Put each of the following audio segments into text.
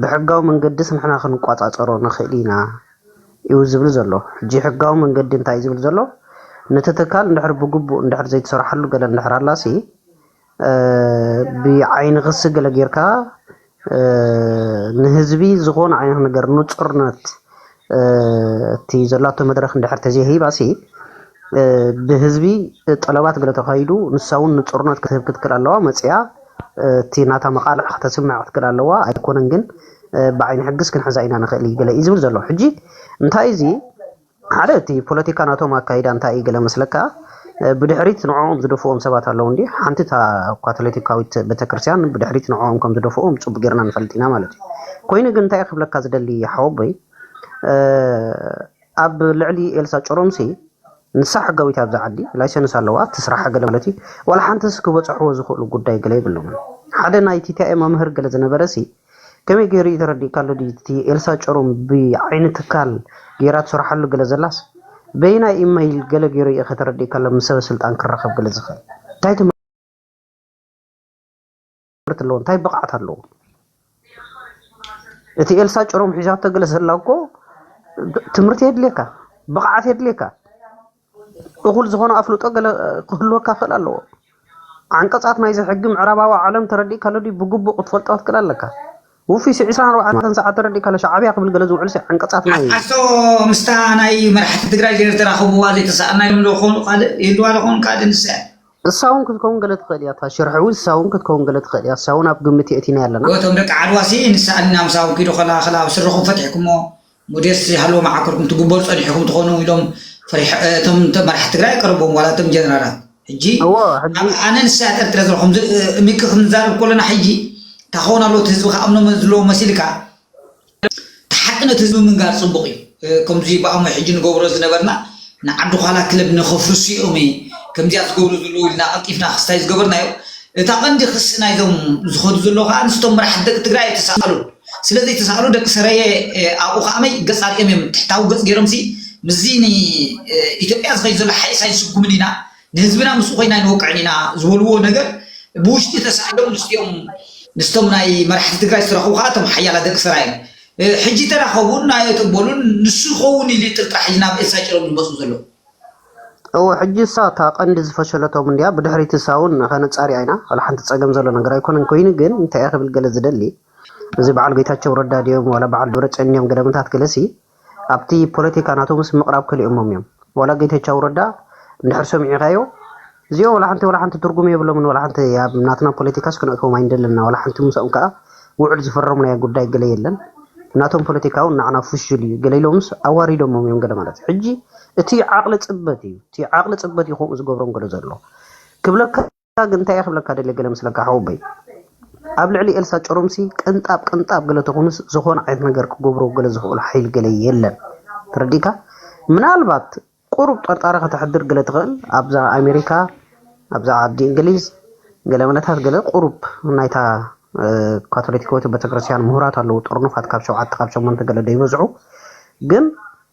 ብሕጋዊ መንገድስ ንሕና ክንቋጻጸሮ ንኽእል ኢና እዩ ዝብል ዘሎ። ሕጂ ሕጋዊ መንገዲ እንታይ እዩ ዝብል ዘሎ? ነቲ ትካል እንድሕር ብግቡእ እንድሕር ዘይተሰርሓሉ ገለ እንድሕር ኣላሲ ብዓይኒ ክሲ ገለ ጌርካ ንህዝቢ ዝኾነ ዓይነት ነገር ንጹርነት እቲ ዘላቶ መድረኽ እንድሕር ተዘይሂባሲ ብህዝቢ ጠለባት ገለ ተኻይዱ ንሳ እውን ንፁርነት ክትህብ ክትክል ኣለዋ መፅያ እቲ ናታ መቃልዕ ከተስምዕ ክትክል ኣለዋ ኣይኮነን ግን ብዓይኒ ሕግስ ክንሕዛ ኢና ንኽእል ገለ እዩ ዝብል ዘሎ ሕጂ እንታይ እዚ ሓደ እቲ ፖለቲካ ናቶም ኣካይዳ እንታይ እዩ ገለ መስለካ ብድሕሪት ንዕኦም ዝደፍኡዎም ሰባት ኣለዉ እንድዩ። ሓንቲ እታ ካቶሊቲካዊት ቤተክርስቲያን ብድሕሪት ንዕኦም ከም ዝደፍኡዎም ጽቡቅ ጌርና ንፈልጥ ኢና ማለት እዩ። ኮይኑ ግን እንታይ እየ ክብለካ ዝደሊ ሓወቦይ ኣብ ልዕሊ ኤልሳ ጭሮምሲ ንሳ ሕጋዊት ኣብዛ ዓዲ ላይሰንስ ኣለዋ ትስራሓ ገለ ማለት እዩ። ዋላ ሓንቲስ ክበጽሕዎ ዝኽእሉ ጉዳይ ገለ የብሎምን። ሓደ ናይ ቲቲኣይ መምህር ገለ ዝነበረሲ ከመይ ገይሩ እዩ ተረዲእካሉ ድዩ እቲ ኤልሳ ጭሩም ብዓይኒ ትካል ገይራ ትሰርሓሉ ገለ ዘላስ በየናይ ኢመይል ገለ ገይሩ እዩ ከተረዲእካሉ ምስ ሰበ ስልጣን ክራኸብ ገለ ዝኽእል እንታይ ትምህርቲ ኣለዎ እንታይ ብቕዓት ኣለዎ እቲ ኤልሳ ጭሩም ሒዛቶ ገለ ዘላ እኮ ትምህርቲ የድልየካ ብቕዓት የድልየካ እኹል ዝኾነ ኣፍልጦ ገለ ክህልወካ ክእል ኣለዎ። ዓንቀጻት ናይዚ ሕጊ ምዕራባዊ ዓለም ተረዲእካሎ ድዩ ብግቡእ ክትፈልጦ ክትክእል ኣለካ። ውፊይ ሲ ዕስራን ኣርባዕተን ሰዓት ተረዲእካሎ ሻዓብያ ክብል ገለ ዝውዕል ሲ ዓንቀጻት ናይ። ሓቶ ምስታ ናይ መራሕቲ ትግራይ ዘይተራኽብዋ ዘይተሳኣና ኢሎም ዶ ይኾኑ ካልእ ይህልዋ ዶ ይኾኑ ካልእ ንሳ እያ። እሳ ውን ክትከውን ገለ ትክእል እያ እታ ሽርሒ ውን እሳ ውን ክትከውን ገለ ትክእል እያ እሳ ውን ኣብ ግምት የእቲናያ ኣለና። እቶም ደቂ ዓድዋ ሲ ንሳ ኣሊና ምሳኹም ኪዱ ከላኸላ ስርኹም ፈቲሕኩሞ ሞዴስ ዘይሃለዎ መዓኮር ክትግበሩ ጸኒሕኩም ትኾኑ ኢሎም ፈሪሖ እቶም መራሕቲ ትግራይ ኣይቀረብዎም ዋላ እቶም ጀነራላት ሕጂ እዎ ሕጂ ኣብ ኣነ ንስያት ኤርትራ ዘለኹም እሚኪ ክንዛረብ ኮለና ሕጂ እንታይ ክኸውን ኣለዎ እቲ ህዝቢ ክኣምኖ ዘለዎ መሲልካ ሓቂ ነቲ ህዝቢ ምንጋር ጽቡቕ እዩ ከምዚ ብኣሞ ሕጂ ንገብሮ ዝነበርና ንዓዲ ዃላ ክለብ ንኸፍርሱ እዮም ከምዚኣ ዝገብሩ ዘለዉ ኢልና ቀልጢፍና ክስታይ ዝገበርናዮ እታ ቀንዲ ክሲ ናይዞም ዝኸዱ ዘለዉ ከኣ ንስቶም መራሕቲ ደቂ ትግራይ ኣይተሳኣሉን ስለዚ ተሳእሉ ደቂ ሰረየ ኣብኡ ከኣ መይ ገጽ ኣርእዮም እዮም ትሕታዊ ገጽ ገይሮምሲ ምስዚ ንኢትዮጵያ ዝኸይድ ዘሎ ሓይስ ኣይንስጉምን ኢና ንህዝብና ምስኡ ኮይና ኣይንወቅዕን ኢና ዝበልዎ ነገር ብውሽጢ ተሳእሎም ምስቲኦም ምስቶም ናይ መራሕቲ ትግራይ ዝተረኸቡ ከኣ እቶም ሓያላት ደቂ ሰራየ ሕጂ ተራኸቡን ናዮ ተበሉን ንሱ ይኸውን ኢሉ ጥርጥራ ሕጂ ናብ ኤልሳ ጭሮም ዝመጹ ዘለዉ እወ ሕጂ እሳ እታ ቀንዲ ዝፈሸለቶም እንድያ ብድሕሪቲ እሳ እውን ከነጻሪያ ኢና ዋላ ሓንቲ ጸገም ዘሎ ነገር ኣይኮነን ኮይኑ ግን እንታይ ክብል ገለ ዝደሊ እዚ በዓል ጌታቸው ረዳ ድዮም ዋላ በዓል ደብረፅዮን እዮም ገደምታት ገለሲ ኣብቲ ፖለቲካ ናቶምስ ምቕራብ ከሊኦሞም እዮም ዋላ ጌታቸው ረዳ እንድሕር ሰሚዕኻዮ እዚኦም ዋላ ሓንቲ ዋላ ሓንቲ ትርጉም የብሎምን ዋላ ሓንቲ ኣብ ናትና ፖለቲካስ ክንእትዎም ኣይንደለና ዋላ ሓንቲ ምስኦም ከዓ ውዕል ዝፈረምናዮ ጉዳይ ገለ የለን ናቶም ፖለቲካውን ንዓና ፍሹል እዩ ገለ ኢሎምስ ኣዋሪዶሞም እዮም ገለ ማለት ሕጂ እቲ ዓቕሊ ፅበት እዩ እቲ ዓቕሊ ፅበት እዩ ከምኡ ዝገብሮም ገለ ዘሎ ክብለካ ኤልሳ ግን እንታይ እየ ክብለካ ደልየ ገለ መስለካ ሓወቦይ ኣብ ልዕሊ ኤልሳ ጭሩምሲ ቅንጣብ ቅንጣብ ገለ ተኾኑስ ዝኾነ ዓይነት ነገር ክገብሮ ገለ ዝኽእሉ ሓይሊ ገለ የለን ተረዲእካ ምናልባት ቁሩብ ጠርጣሪ ከተሕድር ገለ ትኽእል ኣብዛ ኣሜሪካ ኣብዛ ዓዲ እንግሊዝ ገለ መለታት ገለ ቁሩብ ናይታ ካቶሊካዊት ቤተክርስትያን ምሁራት ኣለዉ ጥርኑፋት ካብ ሸውዓተ ካብ ሸሞንተ ገለ ዘይበዝዑ ግን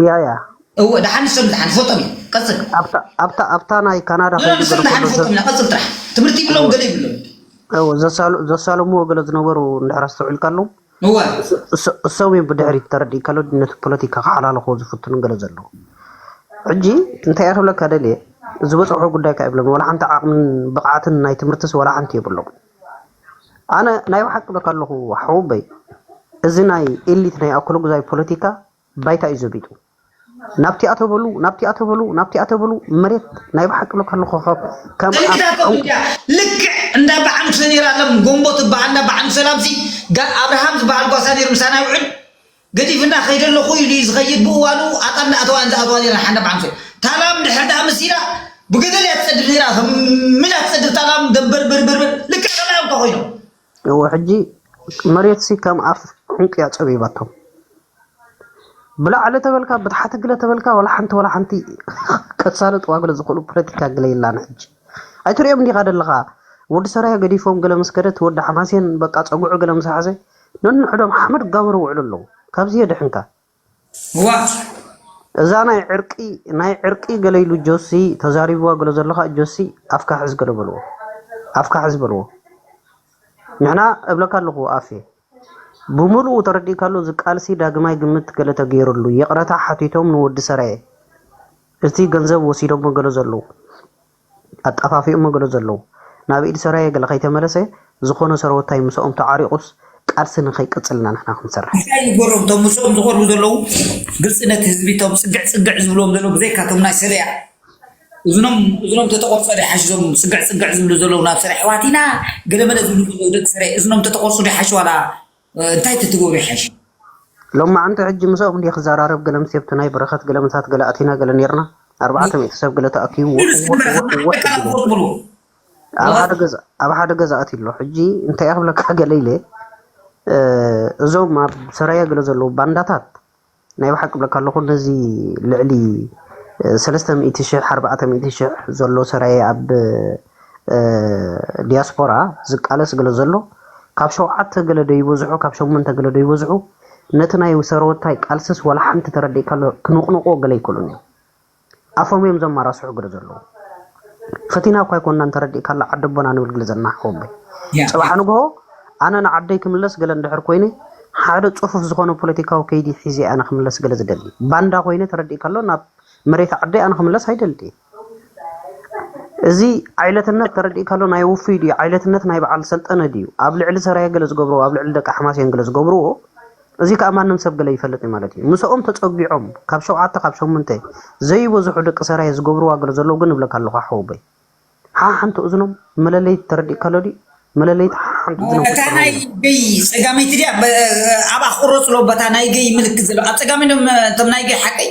እያ እያ እወ ደሓን ንሶም ደሓን ዝፈልጦም እየ ቀፅል ኣብታ ኣብታ ኣብታ ናይ ካናዳ ኖ ንሶም ከይዝገረ ደሓን ከሎ ዝፈልጦም ኢና ቀፅል ጥራሕ ትምህርቲ ይብሎም ገለ ይብሎም እወ ዘሳሉ ዘሳለምዎ ገለ ዝነበሩ እንድሕር ኣስተውዒልካሎም እወ እስ- እስ- እሶም እዮም ብድሕሪት ተረዲእካሎ ነቲ ፖለቲካ ክሓላልኹ ዝፍትኑ ገለ ዘለዉ ሕጂ እንታይ እየ ክብለካ ደልየ ዝበፅሑ ጉዳይ ከዓ ይብሎም ዋላ ሓንቲ ዓቕምን ብቕዓትን ናይ ትምህርትስ ዋላ ሓንቲ የብሎም ኣነ ናይ ብሓቂ ብለካ ኣለኹ ሓውበይ እዚ ናይ ኤሊት ናይ ኣኮሎጉዛይ ፖለቲካ ባይታ እዩ ዘቢጡ ናብቲኣ ተበሉ ናብቲኣ ተበሉ ናብቲኣ ተበሉ መሬት ናይ ብሓቂ ሉካ ልኾኸብ ከም ከምዚ ኣብ ናቶም ዕንቁ እንዲያ ልክዕ እንዳ በዓል ሰኔራ ለም ጎምቦ ትበሃል እንዳ በዓል ሰላምሲ ጋ ኣብርሃም ዝበሃል ጓሳ ነይሩ ምሳና ይውዕል ገዲፍና ከይደ ኣለኹ ኢሉ እዩ ዝኸይድ ብእዋኑ ኣጣል ንኣተዋ እየን ዝኣትዋ ነይረን ሓንዳ በዓል ሰ ታላም ድሕር ደኣ መሲላ ብገደል እያ ትጸድብ ነይራ ከም ምላ ትጸድብ ታላም ደምበርበርበርበር ልክዕ ከምኣዮም እኳ ኮይኖም እወ ሕጂ መሬትሲ ከም ኣፍ ዑንቂ'ያ ጸቢባቶም። ብላዕሊ ተበልካ ብታሕቲ ግለ ተበልካ ዋላ ሓንቲ ዋላ ሓንቲ ከሳልጥዋ ግለ ዝኽእሉ ፖለቲካ ግለ የላን ሕጂ። ኣይትርእዮም ዲኻ ደለኻ ወዲ ሰራየ ገዲፎም ግለ ምስ ከደት ወዲ ሓማሴን በቃ ጸግዑ ግለ ምስ ሓዘ ነንሕዶም ሓመድ ክጋበሩ ይውዕሉ ኣለዉ። ካብዚ የድሕንካ። ዋእ። እዛ ናይ ዕርቂ ናይ ዕርቂ ገለ ኢሉ ጆሲ ተዛሪብዋ ገለ ዘሎ ከኣ ጆሲ ኣፍካ ሕዝ ገለ በልዎ ኣፍካ ሕዝ በልዎ ንሕና እብለካ ኣለኹ ኣፌ ብምልኡ ተረዲእካ ኣሎ እዚ ቃልሲ ዳግማይ ግምት ገለ ተገይርሉ ይቕረታ ሓቲቶም ንወዲ ሰራየ እቲ ገንዘብ ወሲዶሞ ገለ ዘለዉ ኣጣፋፊኦሞ ገለ ዘለዉ ናብ ኢድ ሰራየ ገለ ከይተመለሰ ዝኮነ ሰረወታይ ምሰኦም ተዓሪቁስ ቃልሲ ንከይቅጽል ኢና ንሕና ክንሰርሕ። እንታይ ንገሮም እቶም ምስኦም ዝቀርቡ ዘለዉ ግልጽነት ህዝቢ እቶም ጽግዕ ጽግዕ ዝብልዎም ዘለዉ ብዘይካ እቶም ናይ ሰልያ እዝኖም እዝኖም ተተቆርጾ ዶ ይሓሽ እዞም ጽግዕ ጽግዕ ዝብሉ ዘለዉ ናብ ሰልያ ኣሕዋት ኢና ገለመለ ዝብሉ ዘለዉ ደቂ ሰልያ እዝኖም ተተቆርጹ ዶ ይሓሽ ዋላ እንታይ ተትገብሩ ይሓይሽ? ሎማዓንቲ ሕጂ ምስኦም እንድየ ክዘራረብ ገለ ምስ ሴብትናይ በረኸት ገለ ምሳት ገለ ኣቲና ገለ ኔርና ኣርባዕተ ሚእቲ ሰብ ገለ ተኣኪቡ ኣብ ሓደ ገዛ ኣትዩ ኣሎ ሕጂ እንታይ ክብለካ ገለ ኢለ እዞም ኣብ ሰራየ ገለ ዘለዉ ባንዳታት ናይ ብሓቂ እብለካ ኣለኹ ነዚ ልዕሊ ሰለስተ ሚእቲ ሽሕ ኣርባዕተ ሚእቲ ሽሕ ዘሎ ሰራየ ኣብ ዲያስፖራ ዝቃለስ ገለ ዘሎ ካብ ሸውዓተ ገለ ዶ ይበዝሑ ካብ ሸሞንተ ገለ ዶ ይበዝሑ ነቲ ናይ ሰረወታይ ቃልስስ ዋላ ሓንቲ ተረዲእካ ኣሎ ክንቕንቕዎ ገለ ኣይክእሉን እዮም ኣፎም እዮም ዘማራስሑ ግለ ዘለዉ ፈቲና እኳ ኣይኮናን ተረዲእካላ ዓዲ ኣቦና ንብል ግለ ዘለና ሓወቦይ ጽባሕ ንግሆ ኣነ ንዓደይ ክምለስ ገለ እንድሕር ኮይነ ሓደ ጽፉፍ ዝኾነ ፖለቲካዊ ከይዲ ሒዘ ኣነ ክምለስ ገለ ዝደሊ ባንዳ ኮይነ ተረዲእካሎ ናብ መሬት ዓደይ ኣነ ክምለስ ኣይደልየ እዚ ዓይለትነት ተረዲእካሎ ናይ ውፍይ ድዩ ዓይለትነት ናይ በዓል ሰልጠነ ድዩ ኣብ ልዕሊ ሰራየ ገለ ዝገብርዎ ኣብ ልዕሊ ደቂ ሓማስየን ገለ ዝገብርዎ እዚ ከኣ ማንም ሰብ ገለ ይፈልጥ እዩ ማለት እዩ። ምሰኦም ተጸጊዖም ካብ ሸውዓተ ካብ ሸምንተ ዘይበዝሑ ደቂ ሰራየ ዝገብርዋ ገለ ዘለዉ ግን እብለካ ኣለኹ ሓወቦይ። ሓሓንቲ እዝኖም መለለይት ተረዲእካ ኣሎ ድዩ? መለለይት ሓሓንቲ እዝኖም እታ ክትጽረው ናይ ኣለዎም። ገይ ጸጋመይቲ ድያ ብ ኣብኣ ክቁረጽ ኣለዎ በታ ናይ ገይ ምልክት ዘለዋ ኣብ ጸጋመይ እቶም ናይ ገይ ሓቀይ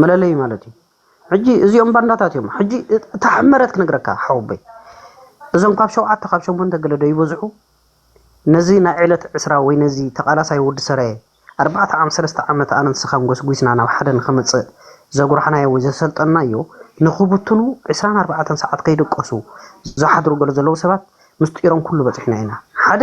መለለዩ ማለት እዩ ሕጂ እዚኦም ባንዳታት እዮም ሕጂ እታ ሕመረት ክነግረካ ሓወበይ እዞም ካብ ሸውዓተ ካብ ሸሞንተ ገለ ዶ ይበዝሑ ነዚ ናይ ዕለት ዕስራ ወይ ነዚ ተቓላሳይ ወዲ ሰራየ ኣርባዕተ ዓም ሰለስተ ዓመት ኣነ ንስኻን ጎስጒስና ናብ ሓደ ንኸመጽእ ዘጉራሕናዮ ወይ ዘሰልጠናዮ ንኽብትኑ ዕስራን ኣርባዕተን ሰዓት ከይደቀሱ ዝሓድሩ ገለ ዘለዉ ሰባት ምስጢሮም ኩሉ በጺሕና ኢና ሓደ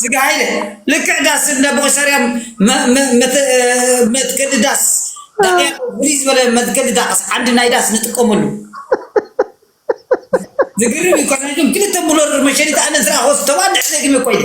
ስጋ ሃይለ ልክዕ ዳስ እንደ ቦቅሸርያም መትከዲ ዳስ ዳቅያ ፍልይ ዝበለ መትከዲ ዳስ ዓንዲ ናይ ዳስ ንጥቀመሉ ዝገርም እዩ እኳ ናይዞም ክልተ ሙለር መሸኒት ኣነ ዝረኣኹዎስ ተባዕ ድሕሪ ደጊመ እኳ ኢለ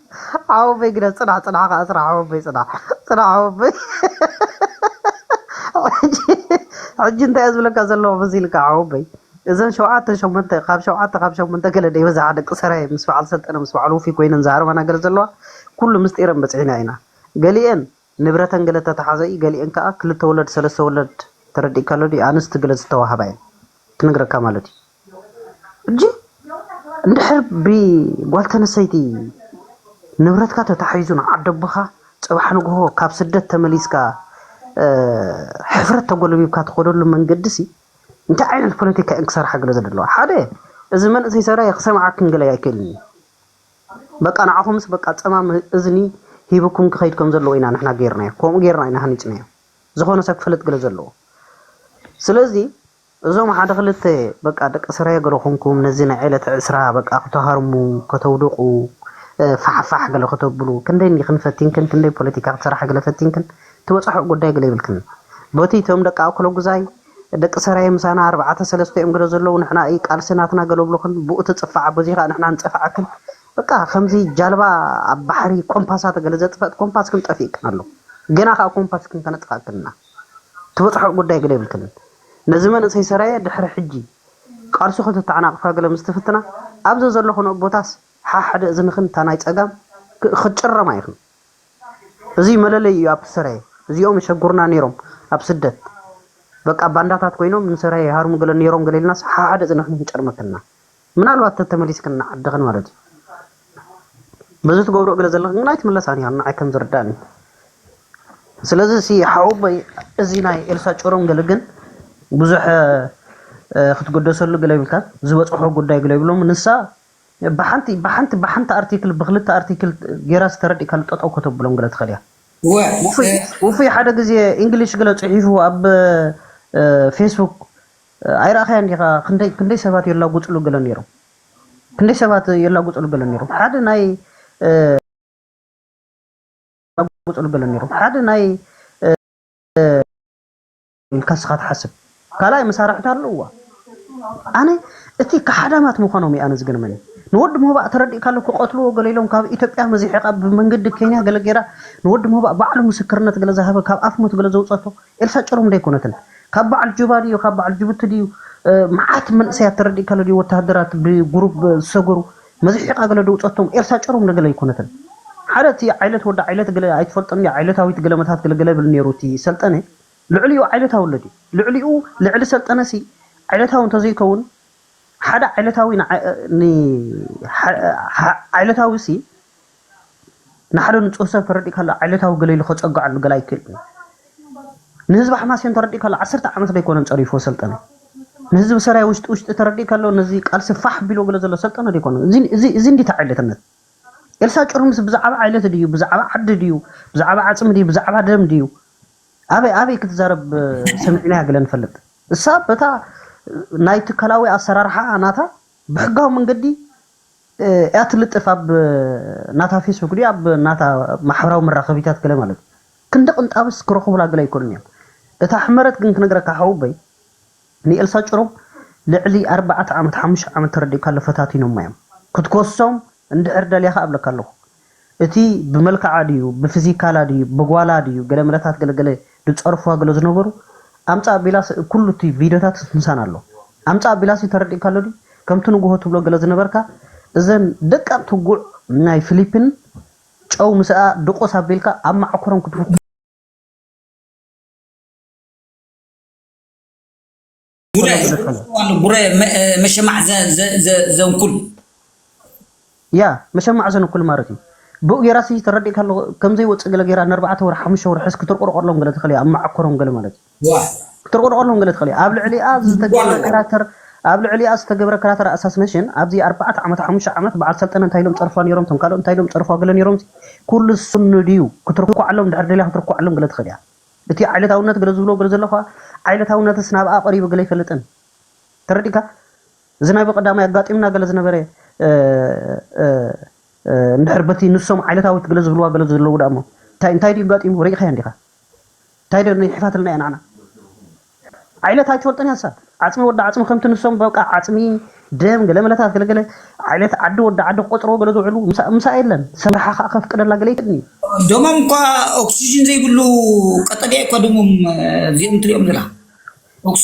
ዓወቦይ ግዳ ጽናሕ ጽናሕ ከኣ ጽናሕ ዓወቦይ ጽናሕ ጽናሕ ዓወቦይ ሕጂ ሕጂ እንታይ እየ ዝብለካ ዘለኹ መሲል እካ ዓወቦይ እዘን ሸውዓተ ሸሞንተ ካብ ሸውዓተ ካብ ሸሞንተ ገለ ደይበዝሓ ደቂ ሰራየ ምስ በዓል ሰልጠነ ምስ በዓል ውፉይ ኮይነን ዝሃርማና ገለ ዘለዋ ኩሉ ምስጢረን በጽሒና ኢና ገሊኤን ንብረተን ገለ ተታሓዘ እዩ ገሊኤን ከኣ ክልተ ወለድ ሰለስተ ወለድ ተረዲእካ ኣሎ ድዩ ኣንስቲ ገለ ዝተዋሃባ እየን ክነግረካ ማለት እዩ ሕጂ እንድሕር ብጓል ተነሰይቲ ንብረትካ ተታሒዙ ንዓደቦኻ ጽባሕ ንግሆ ካብ ስደት ተመሊስካ ሕፍረት ተጎልቢብካ ትኸደሉ መንገዲ ሲ እንታይ ዓይነት ፖለቲካ እየን ክሰርሓ ገለ ዘለዋ ሓደ እዚ መንእሰይ ሰብኣይ ክሰምዓክን ገለ ኣይክእልን እዩ በቃ ንዓኹምስ በቃ ጸማም እዝኒ ሂቡኩም ክኸይድ ከም ዘለዎ ኢና ንሕና ጌርናዮ ከምኡ ጌርና ኢና ሃኒጽናዮ ዝኾነ ሰብ ክፈልጥ ግለ ዘለዎ ስለዚ እዞም ሓደ ክልተ በቃ ደቂ ስረ ገለ ኮንኩም ነዚ ናይ ዕለት ዕስራ በቃ ክትሃርሙ ከተውድቑ ፋሕፋሕ ገለ ከተብሉ ክንደይ እንዲክን ፈቲንክን ክንደይ ፖለቲካ ክትሰርሓ ገለ ፈቲንክን ትበጽሕኦ ጉዳይ ገለ ይብልክን በቲ እቶም ደቂ ኣኩለጉዛይ ደቂ ሰራየ ምሳና ኣርባዕተ ሰለስተ እዮም ገለ ዘለዉ ንሕና እዪ ቃልሲ ናትና ገለ ብሉክን ብኡ ትጽፋዓ በዙይ ከኣ ንሕና ንጸፍዓክን በቃ ከምዚ ጃልባ ኣብ ባሕሪ ኮምፓሳተ ገለ ዘጥፈእት ኮምፓስክን ጠፊእክን ኣሎ ገና ከኣ ኮምፓስክን ከነጥፋክን እና ትበጽሕኦ ጉዳይ ገለ የብልክንን ነዚ መንእሰይ ሰራየ ድሕሪ ሕጂ ቃልሱ ከተተዓናቅፋ ገለ ምስ ትፍትና ኣብ ዘዘለክንኦ ቦታስ ሓሓደ እዝንክን እታ ናይ ጸጋም ክትጭረማ ኢክን እዚ መለለይ እዩ ኣብ ሰራየ እዚኦም የሸጉሩና ኔሮም ኣብ ስደት በቃ ባንዳታት ኮይኖም ንሰራየ ይሃርሙ ገለ ኔሮም ገለ ኢልናስ ሓሓደ ጽኒሕና ክንጨርመክና ምናልባት ተተመሊስክን ንዓድኽን ማለት እዩ በዚ ትገብርኦ ገለ ዘለኽን ግን ኣይትምለሳን ኢኽን ንዓይ ከም ዝርዳእኒ ስለዚ እዚ ሓወቦይ እዚ ናይ ኤልሳ ጭሩም ገለ ግን ብዙሕ ክትገደሰሉ ገለ ይብልካ ዝበፅሖ ጉዳይ ገለ ይብሎም ንሳ ብሓንቲ ብሓንቲ ብሓንቲ ኣርቲክል ብክልተ ኣርቲክል ጌራ ዝተረዲእካሉ ጠጠው ከተብሎም ግለ ትኽእል እያ። ውፉይ ሓደ ግዜ ኢንግሊሽ ግለ ጽሒፉ ኣብ ፌስቡክ ኣይረኣኻያን ዲኻ ክንደይ ክንደይ ሰባት የላጉጽሉ ግለ ነይሮም ክንደይ ሰባት የላጉጽሉ ግለ ነይሮም ሓደ ናይ ጉጽሉ ገለ ነይሮም ሓደ ናይ ኢልካ እስኻ ትሓስብ ካልኣይ መሳርሕታ ኣለዋ ኣነ እቲ ካሓዳማት ምዃኖም እዩ ኣነ ዝገርመኒ ንወዲ ሞባእ ተረዲእካሉ ክቐትልዎ ገለ ኢሎም ካብ ኢትዮጵያ መዚሒቓ ብመንገዲ ኬንያ ገለ ጌራ ንወዲ ሞባእ ባዕሉ ምስክርነት ገለ ዝሃበ ካብ ኣፍ ሞት ገለ ዘውፀቶ ኤልሳ ጭሩም ደይኮነትን ካብ በዓል ጁባ ድዩ ካብ በዓል ጅቡቲ ድዩ መዓት መንእሰያት ተረዲእካሉ ድዩ ወተሃደራት ብጉሩብ ዝሰገሩ መዚሒቓ ገለ ደውፀቶም ኤልሳ ጭሩም ደገለ ኣይኮነትን ሓደ እቲ ዓይነት ወዲ ዓይነት ገለ ኣይትፈልጦን እያ ዓይነታዊት ገለ መታት ገለ ገለ ብል ነይሩ እቲ ሰልጠነ ልዕሊኡ ዓይነታዊ ኣሎ ድዩ? ልዕሊኡ ልዕሊ ሰልጠነሲ ዓይነታዊ እንተዘይከውን ሓደ ዓይነታዊ ንዓይነታዊሲ ንሓደ ንጹህ ሰብ ተረዲእካ ኣሎ ዓይነታዊ ገለ ኢሉ ከጸግዓሉ ገለ ኣይክእልን ንህዝቢ ሓማሴን ተረዲእካ ኣሎ ዓሰርተ ዓመት ደይኮነን ጸሪፎ ሰልጠነ ንህዝቢ ሰራይ ውሽጢ ውሽጢ ተረዲእካ ኣሎ ነዚ ቃልሲ ፋሕ ቢሎ ገለ ዘሎ ሰልጠነ ደይኮነ እዚ እንዲታ ዓይነትነት ኤልሳ ጭሩምስ ብዛዕባ ዓይነት ድዩ ብዛዕባ ዓዲ ድዩ ብዛዕባ ዓጽሚ ድዩ ብዛዕባ ደም ድዩ ኣበይ ኣበይ ክትዛረብ ሰሚዕናያ ገለ ንፈልጥ እሳ በታ ናይ ትካላዊ ኣሰራርሓኣ ናታ ብሕጋዊ መንገዲ እያ ትልጥፍ ኣብ ናታ ፌስቡክ ድዩ ኣብ ናታ ማሕበራዊ መራኸቢታት ገለ ማለት እዩ ክንዲ ቅንጣብስ ክረኽቡላ ገለ ኣይኮኑን እዮም እታ ሕመረት ግን ክነግረካ ሓውበይ ንኤልሳ ጭሩም ልዕሊ ኣርባዕተ ዓመት ሓሙሽተ ዓመት ተረዲእካ ኣሎ ፈታቲኖማ እዮም ክትኮሶም እንድሕር ደልኻ እብለካ ኣለኹ እቲ ብመልክዓ ድዩ ብፍዚካላ ድዩ ብጓላ ድዩ ገለመለታት ገለገለ ድጸርፍዋ ገለ ዝነበሩ ኣምጽእ ኣቢላስ ኩሉ እቲ ቪድዮታት ምሳና ኣሎ ኣምጽእ ኣቢላስ እዩ ተረዲእካ ኣሎ ድዩ ከምቲ ንግሆ ትብሎ ገለ ዝነበርካ እዘን ደቀቕቲ ጉዕ ናይ ፍሊፕን ጨው ምስኣ ድቁስ ኣቢልካ ኣብ ማዓኮሮም ክትውክል ጉረ ጉረ መሸማዕ ዘንኩል ያ መሸማዕ ዘንኩል ማለት እዩ ብኡ ጌራ ሲ ተረዲእካ ኣሎ ከምዘይ ወጽእ ገለ ጌራ ንኣርባዕተ ወር ሓሙሽተ ወር ሕስ ክትርቆርቆሎም ገለ ትኽእል እያ ኣብ መዓኮሮም ገለ ማለት እዩ ክትርቆርቆሎም ገለ ትኽእል እያ ኣብ ልዕሊኣ ዝተገብረ ካራክተር ኣብ ልዕሊኣ ዝተገብረ ካራክተር ኣሳስነሽን ኣብዚ ኣርባዕተ ዓመት ሓሙሽተ ዓመት በዓል ሰልጠነ እንታይ ኢሎም ጸርፏ ነይሮም ቶም ካልኦት እንታይ ኢሎም ጸርፏ ገለ ነይሮም ኩሉ ስኑ ድዩ ክትርኳዓሎም ድሕር ደልያ ክትርኳዓሎም ገለ ትኽእል እያ እቲ ዓይለታውነት ገለ ዝብሎ ገለ ዘሎ ከኣ ዓይለታውነትስ ናብኣ ቀሪቡ ገለ ኣይፈልጥን ተረዲእካ እዚ ናይ ብቀዳማይ ኣጋጢምና ገለ ዝነበረ እንድሕር በቲ ንሶም ዓይለታዊት ገለ ዝብልዋ ገለ ዘለዉ ደኣሞ እንታይ እንታይ ድዩ ኣጋጢሙ ርኢኻያ እንዲኻ እንታይ ዶ ይሕፋትልና እያ ናዕና ዓይነት ኣይትፈልጦን እያ ንሳ ዓጽሚ ወዲ ዓጽሚ ከምቲ ንሶም በቃ ዓጽሚ ደም ገለመለታት ገለገለ ዓይነት ዓዲ ወዲ ዓዲ ክቆጽርዎ ገለ ዝውዕሉ ምሳኣ የለን ሰምርሓ ከኣ ከፍቅደላ ገለ ይክእልን እዩ። ደሞም እኳ ኦክስጅን ዘይብሉ ቀጠልያ እኳ ደሞም እዚኦም ትሪኦም ዘላ ኦክስጅን።